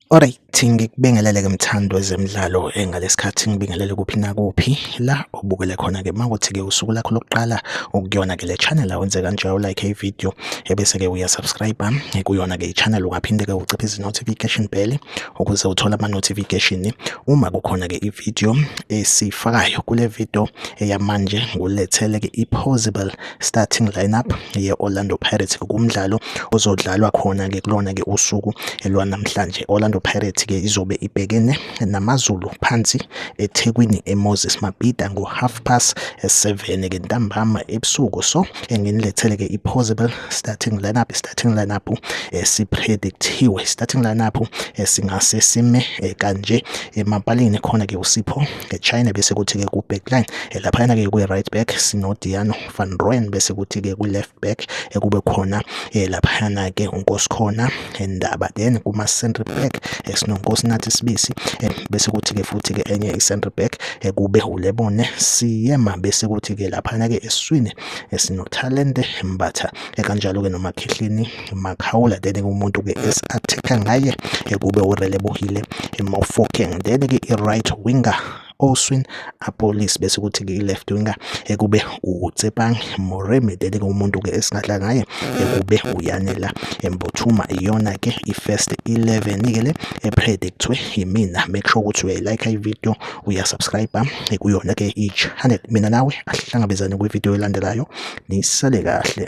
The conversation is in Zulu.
Alright ukuthi ngikubingelele ke mthando wezemidlalo engalesikhathi ngibingelele kuphi nakuphi la ubukele khona ke makuthi ke usuku lakho lokuqala ukuyona ke le channel awenze kanje u like ivideo ebese ke uya subscribe kuyona ke i channel ungaphinde ke uciphe izi notification bell ukuze uthole ama-notification uma kukhona-ke i-video esiyifakayo kule video eyamanje ngulethele-ke i-possible starting lineup ye-orlando pirates kumdlalo ozodlalwa khona-ke kulona-ke usuku lwanamhlanje orlando pirates-ke izobe ibhekene namazulu phansi ethekwini emoses mabhida ngo-half past seven-ke ntambama ebusuku so nginilethele-ke i-possible starting lineup i-starting lineup esipredictiwe eh, starting lineup esingase eh, sime eh, kanje emapalini khona-ke usipho echina bese kuthi-ke ku-backline laphayana-ke kwi-right back sinodiano van roen bese kuthi-ke kwi-left back kube khona laphayana-ke unkosikhona ndaba then kuma-centre back sinonkosi nathi sibisi bese kuthi-ke futhi-ke enye i-centre back ekube ulebone siyema bese kuthi-ke laphana-ke esiswini esinothalente mbatha ekanjalo-ke nomakhihlini makhawula then-ke umuntu-ke esi-attack-a ngaye ekube urelebohile emofokeng then-ke i-right winger oswin apolice bese kuthi ke left winger ekube uTsepang Moremi dele umuntu ke esingadla ngaye ekube uyanela embothuma iyona ke ifirst 11 ke le epredictwe yimina make sure ukuthi uyayilike ivideo uyasubscribe kuyona ke i-channel mina nawe ahlangabezane kwivideo elandelayo nisale kahle